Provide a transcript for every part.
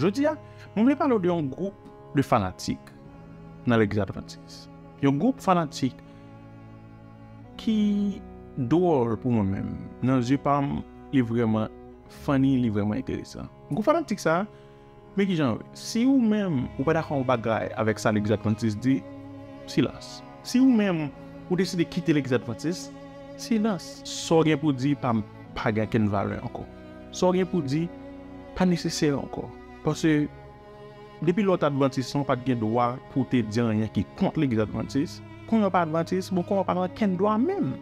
Jodi a, mwen vle pale w de yon gwoup de fanatik nan legliz advantis. Yon gwoup fanatik ki dwòl pou mwen menm. Nan zye pa m, li vrèman funny, li vrèman enteresan. Gwoup fanatik sa, men ki jan yo ye. Si ou menm ou pa dakò yon bagay avèk sa legliz advantis di, silans. Si ou menm ou deside kite legliz advantis, silans. Sa w gen pou di pa m pa gen okenn valè ankò. Sa w gen pou w di pa nesesè ankò. Pase, depi lè w t advantis lan w pa t gen dwa pou w te di anyen ki kont legliz advantis. Kounye a w pa advantis, bon kounye a w pa gen okenn dwa menm.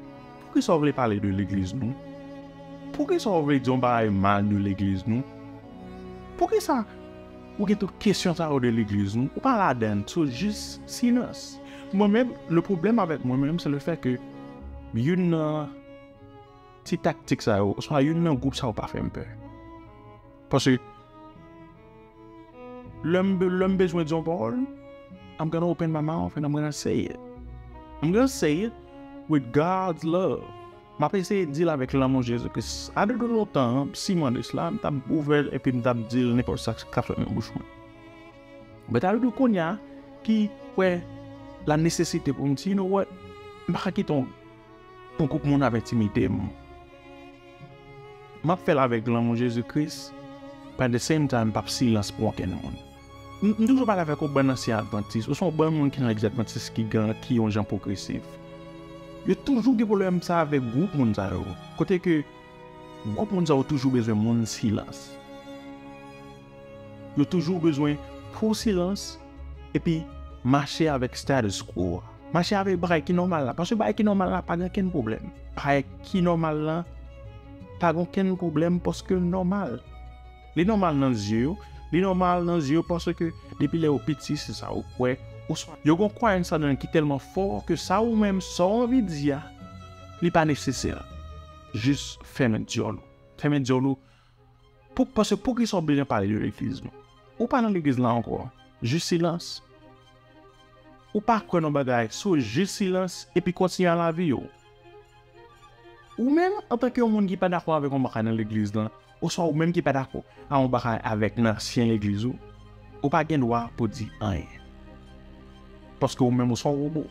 Poukisa w vle pale de legliz nou? Poukisa w vle di yon bagay mal de legliz nou? Poukisa ou gen tout kesyon sa yo de legliz nou? Ou pa ladan l, sou jis silans. Mwen menm, le pwoblèm avèk mwen menm se le fè ke youn nan. Ti taktik sa yo, oswa youn nan gwoup sa yo pa fè m pè. Paske, lè m bezwen di yon pawòl, I'm gonna open my mouth and I'm gonna say it. I'm gonna say it with God's love. M ap eseye di l avèk lanmou Jezi Kris. A de de lontan, m siman de sla, m t ap ouvè l epi m t ap di l nenpòt sa k t ap sot nan bouch mwen. Bèt a de de kounye a ki wè lanesesite pou m di, You know what? M pa ka kite yon. Yon gwoup moun ap entimide m. Map fèl avèk lanmou Jezi Kris but at the same time m pap silans pou ankenn moun. M toujou pale avèk yon bann ansyen advantis oswa yon bann moun ki nan legliz advantis ki gen ki yon jan pwogresif. Yo toujou gen pwoblèm sa avèk gwoup moun sa yo kote ke gwoup moun sa yo toujou bezwen moun silans. Yo toujou bezwen fè silans epi mache avèk status quo a. Mache avèk bagay ki nòmal la. Paske bagay ki nòmal la pa gen okenn pwoblèm. Bagay ki nòmal la pa gen okenn pwoblèm paske l nòmal. Li nòmal nan zye yo. Li nòmal nan zye yo paske depi lè ou piti se sa ou kwè. Oswa yo gen yon kwayans ladan l ki tèlman fò ke sa ou menm, sa w anvi di a, li pa nesesè. Jis fèmen dyòl ou. Fèmen dyòl ou. Pou paske poukisa ou bezwen pale de legliz nou? Ou pa nan legliz la ankò, jis silans. Ou pa kwè nan bagay so jis silans epi kontinye a lavi ou. Ou menm antanke yon moun ki pa dakò avèk yon bagay nan legliz lan, oswa ou menm ki pa dakò a yon bagay avèk nan ansyen legliz ou, ou pa gen dwa pou di anyen. Paske ou menm ou son wobo.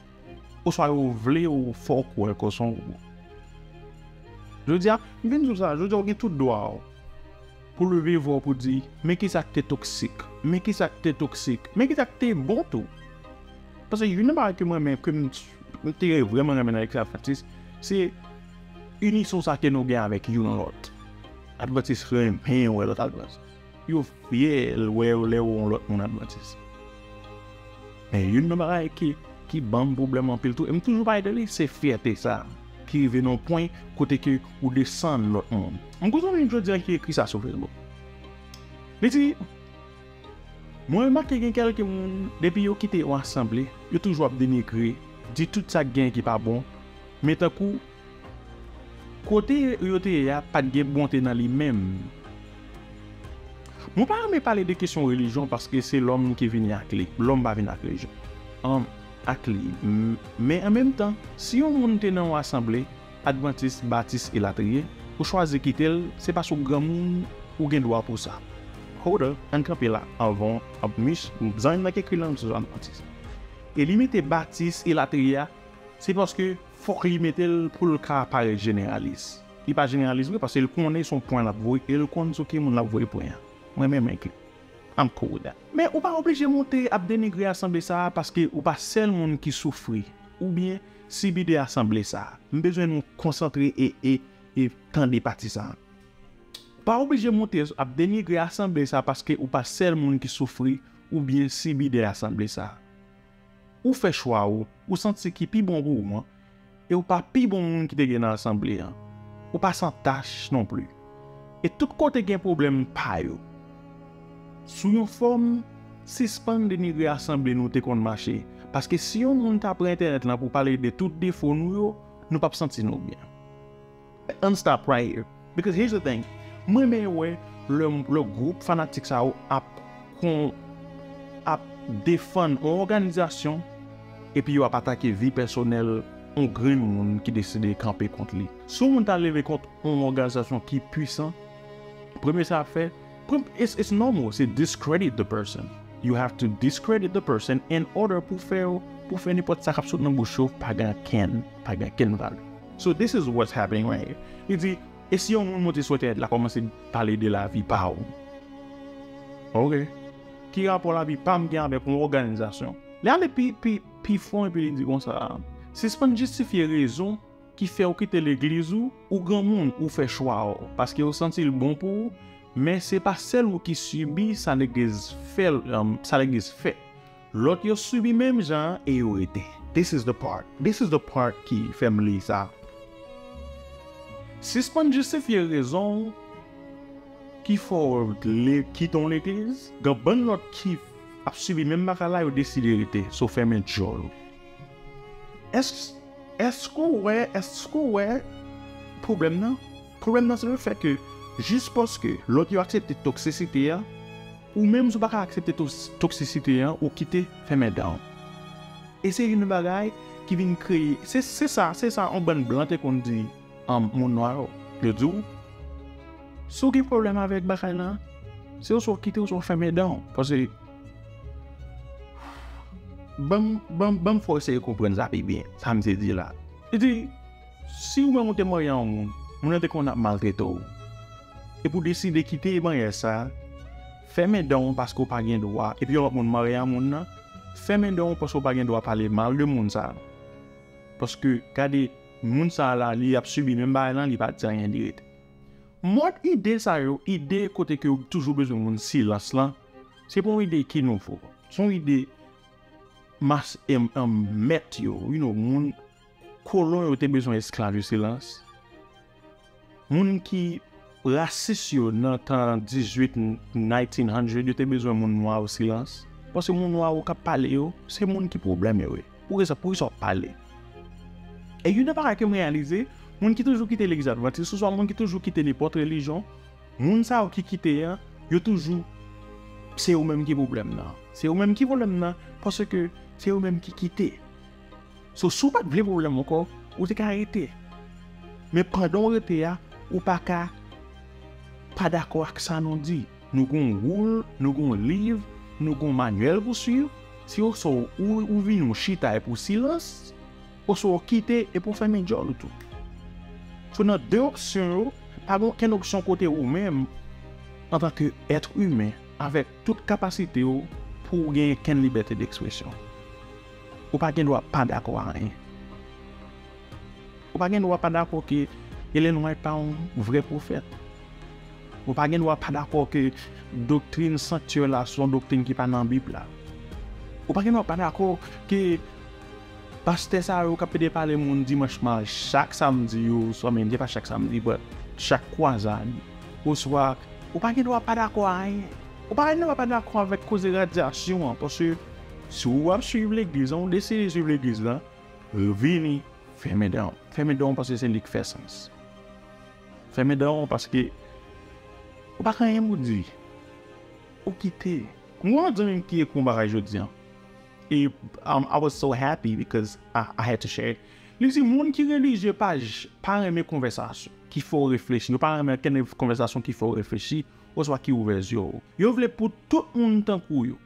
Oswa yo vle ou fè w kwè ke w se yon gwo. Jodi a, m vin di w sa, jodi a ou gen tout dwa w pou leve vwa w pou di, men kisa k te toksik, men kisa k te toksik, men kisa k te bon tou. Paske youn nan bagay ke m renmen, ke m te vrèman renmen nan Eklè Advantis, se inison sa ke nou gen avèk youn lòt. Advantis renmen wè lòt Advantis. Yo fyèl wèw lèw yon lòt moun advantis. Men youn nan bagay ki banm pwoblèm anpil tou e m toujou pale de li se fyète sa ki rive nan yon pwen kote ke ou desann lòt moun. M gen yon zanmim jodi a ki ekri sa sou Facebook. Li di, Mwen remake gen kèlke moun depi yo kite yon asanble, yo toujou ap denigre, di tout sa ki genyen ki pa bon, men tankou, Kote yo te ye a pa t gen bonte nan li menm. Mwen pa renmen pale de kesyon relijyon paske se lòm ki vini ak li. Lòm pa vin ak relijyon. An, ak li. Men an menm tan, si yon moun te nan yon asanble, advantis, batis elatriye, ou chwazi kite l, se paske ou granmoun, ou gen dwa pou sa. Hold up, ann kanpe la anvan, anplis, zanmi m nan ki ekri l lan, m se yon advantis. E li mete batis elatriye a, se paske. Fok li metel poul ka parèt jeneralis. Li pa jeneralis vre paske li konnen son pwen lap voye el konn sou ki moun lap voye pwen an. Mwen menm enkli. I'm cool with that. Men ou pa oblije moute ap denigre asanble sa a paske ou pa sèl moun ki soufri oubyen sibi de asanble sa a. M bezwen nou konsantre e e e tande pati sa a. Ou pa oblije moute ap denigre asanble sa a paske ou pa sèl moun ki soufri oubyen sibi de asanble sa a. Ou fè chwa ou, ou santi ki pi bon pou ou an, e ou pa pi bon moun ki te gen nan asanble an. Ou pa san tach non pli. E tout kote gen pwoblèm pa yo. Sou yon fòm, sispann denigre asanble nou te konn mache, paske si yon moun ta pran entènèt lan pou pale de tout defo nou yo, nou pap santi nou byen. Ann stop right here because here's the thing m renmen wè lè gwoup fanatik sa yo ap kon ap defann yon òganizasyon epi yo ap atake vi pèsonèl yon grenn moun ki deside kanpe kont li si yon moun ta leve kont yon òganizasyon ki pwisan premye sa ap fè it's it's normal se discredit the person you have to discredit the person in order pou fè yo pou fè nenpòt sa k ap sot nan bouch yo pa gen ankenn pa gen ankenn valè. So this is what's happening right here. Li di, e si yon moun monte sou entènèt la kòmanse pale de lavi pa ou? Ok. Ki rapò lavi pa m gen avèk yon òganizasyon? Li ale pi fon epi li di konsa, sispann jistifye rezon ki fè ou kite legliz ou, ou granmoun, ou fè chwa ou, paske ou santi l bon pou ou, men se pa sèl ou ki sibi sa legliz fè. Lòt yo subi menm jan an e yo rete. This is the part This is the part ki fè m li sa Sispann jistifye rezon w ki fè w vle kite yon legliz Gen bann lòt ki ap sibi menm bagay la yo deside rete So fèmen djòl ou Èske w wè Èske w wè pwoblèm nan? Pwoblèm nan se le fè ke jis paske lòt yo aksepte toksisite a, ou menm si w pa ka aksepte toksisite a, ou kite fèmen dan w. E se youn bagay ki vin kreye, se se sa, se sa yon bann blan te konn di moun nwa yo. Yo di w, si w gen pwoblèm avèk bagay lan, se oswa w kite oswa w fèmen dan w. Paske, ban m fè w eseye konprann sa pi byen, sa m vle di la. Li di. Si ou menm ou te marye yon moun, moun nan te konn ap maltrete w, epi ou deside kite maryaj sa, fèmen dan ou paske ou pa gen dwa, epi yon lòt moun marye a moun nan, fèmen dan ou paske ou pa gen dwa pale mal de moun sa. Paske gade moun sa la li ap sibi menm bagay lan li pa di anyen li rete. Mòd ide sa yo, ide kote ke ou toujou bezwen moun silans lan, se pa yon ide ki nouvo. Se yon ide mas mèt yo, you know, moun. Kolon yo te bezwen esklav yo silans moun ki rasis yo nan tan 18 nineteen hundred yo te bezwen moun nwa yo silans paske moun nwa yo kap pale yo se moun ki pwoblèm yo ye poukisa poukisa wap pale e youn nan bagay kem reyalize moun ki toujou kite legliz advantis oswa moun ki toujou kite nenpòt relijyon moun sa yo ki kite an yo toujou se yo menm ki pwoblèm nan se yo menm ki pwoblèm nan paske se yo menm ki kite. So si w pat vle pwoblèm ankò, ou te ka rete. Men pandan w rete a, ou pa ka pa dakò ak sa nou di. Nou gen yon woul, nou gen yon liv, nou gen yon manyèl pou suiv, se oswa ou vini ou chita epi w silans, oswa w kite epi w fèmen djòl ou tou. So nan de opsyon yo, pa gen okenn opsyon kote ou menm, antanke èt imen, avèk tout kapasite w, pou w gen okenn libète dekspresyon. Ou pa gen dwa pa dakò a anyen. Ou pa gen dwa pa dakò ke Ellen White pa yon vrè pwofèt. Ou pa gen dwa pa dakò ke doktrin sanktyè la se yon doktrin ki pa nan Bib la. Ou pa gen dwa pa dakò ke pastè sa yo k ap pede pale moun dimanch ma chak samdi yo oswa men se pa chak samdi but chak kwazad oswa ou pa gen dwa pa dakò a anyen. Ou pa gen dwa pa dakò avèk koze radyasyon an paske Si ou ap swiv legliz lan ou deside swiv legliz lan vini fèmen danw fèmen danw paske se li k fè sans fèmen danw paske ou pa k anyen pou di ou kite m gen yon zanmi m ki ekri yon bagay jodi an e I was so happy because I had to share li di moun ki relijye pa pa renmen konvèsasyon ki fè w reflechi yo pa renmen okenn konvèsasyon ki fè w reflechi oswa ki ouvè zye w yo vle pou tout moun tankou yo.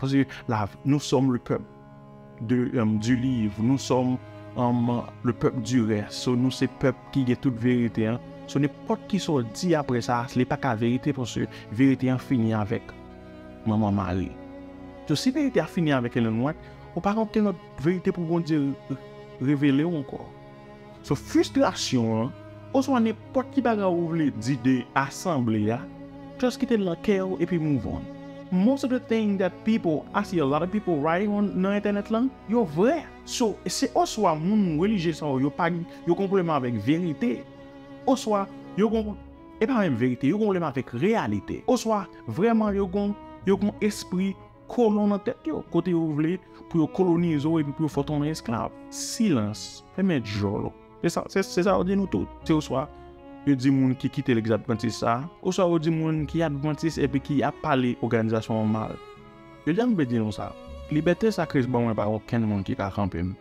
Paske la nous sommes le peuple de du livre nous sommes le peuple du reste so nou se pèp ki gen tout verite an so nenpòt kisa w di aprè sa li pa ka verite paske verite an fini avèk manman mari so si verite a fini avèk Ellen White ou pa gen okenn lòt verite pou Bondye revele w ankò. So fristrasyon an oswa nenpòt ki bagay ou vle di de asanble a, just kite l nan kè w epi move on. Most of the thing that people, I see a lot of people writing on nan entènèt lan, yo vrè. So, se oswa moun relijye sa yo yo pa gen, yo gen yon pwoblèm avèk verite, oswa yo gen, e pa menm verite, yo gen yon pwoblèm avèk reyalite, oswa vrèman yo gen, yo gen yon espri. Kolon nan tèt yo, kote yo vle pou yo kolonize w epi pou yo fè w tounen esklav. Silans! Fèmen djòl ou! Se sa, se sa yo di nou tout. Se oswa yo di moun ki kite Legliz Advantis sa, oswa yo di moun ki Advantis epi ki ap pale òganizasyon an mal. Jodi a m vle di nou sa, libète sa Kris ban mwen pa gen okenn moun ki ka kanpe m.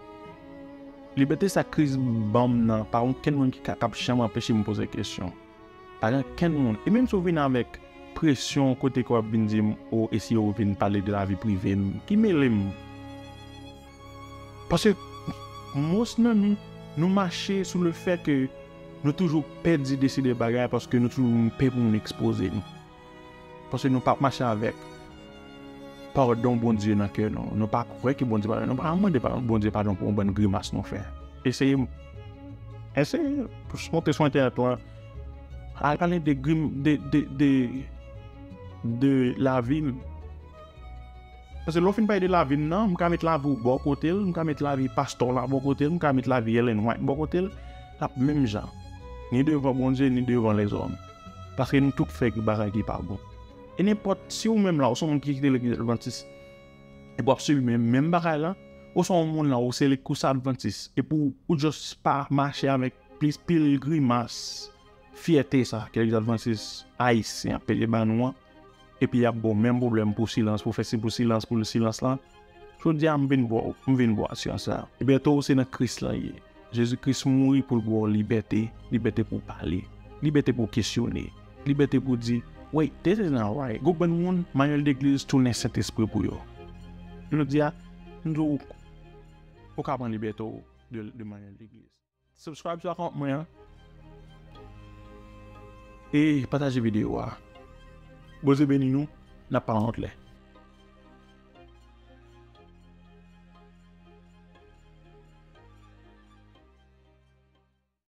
Libète sa Kris ban m nan pa gen okenn moun ki ka, k ap janm anpeche m poze kesyon. Pa gen kenn moun, e menm si w vin avèk presyon kote ke w ap vin di m o e si yo vin pale de lavi prive m, ki mele m? Paske mos nan nou, nou mache sou le fè ke nou toujou pè di, deside bagay paske nou toujou pè pou moun ekspoze nou. Paske nou pa mache avèk padon Bondye nan kè nou. Nou pa kwè ke Bondye padone. Nou pa mande Bondye padon pou yon bann grimas nou fè. Eseye eseye monte sou entènèt lan al pale de grim de de de lavi m. Paske lè w fin pale de lavi m nan, m ka met lavi w bò kote l, m ka met lavi pastè w la bò kote l, m ka met lavi Ellen White bò kote l, l ap menm jan. Ni devan Bondye ni devan lèzòm. Paske nou tout fè bagay ki pa bon. E nenpòt, si ou menm la, ou se yon moun ki kite legliz advantis, epi wap sibi menm menm bagay la, ou se yon moun la, ou se ou se advantis, epi ou just pa mache avèk plis pil grimas fyète sa ke legliz advantis ayisyen ap peye ba nou an, Epi yap baw menm pwoblèm pou silans pou fè si pou silans pou silans lan Jodia m vin baw m vin baw asyans la. Libète w se nan Kris lan ye. Jezi Kris mouri pou l ba w libète, libète pou w pale, libète pou w kesyone, libète pou w di, Wait, this is not right. Gwo bann moun, manyèl legliz tounen Sentespri pou yo. Jodia, m di w, ou ka pran libète w de manyèl legliz. Subscribe sou account mwen an e pataje video a Bondye beni nou nap pa wont lè.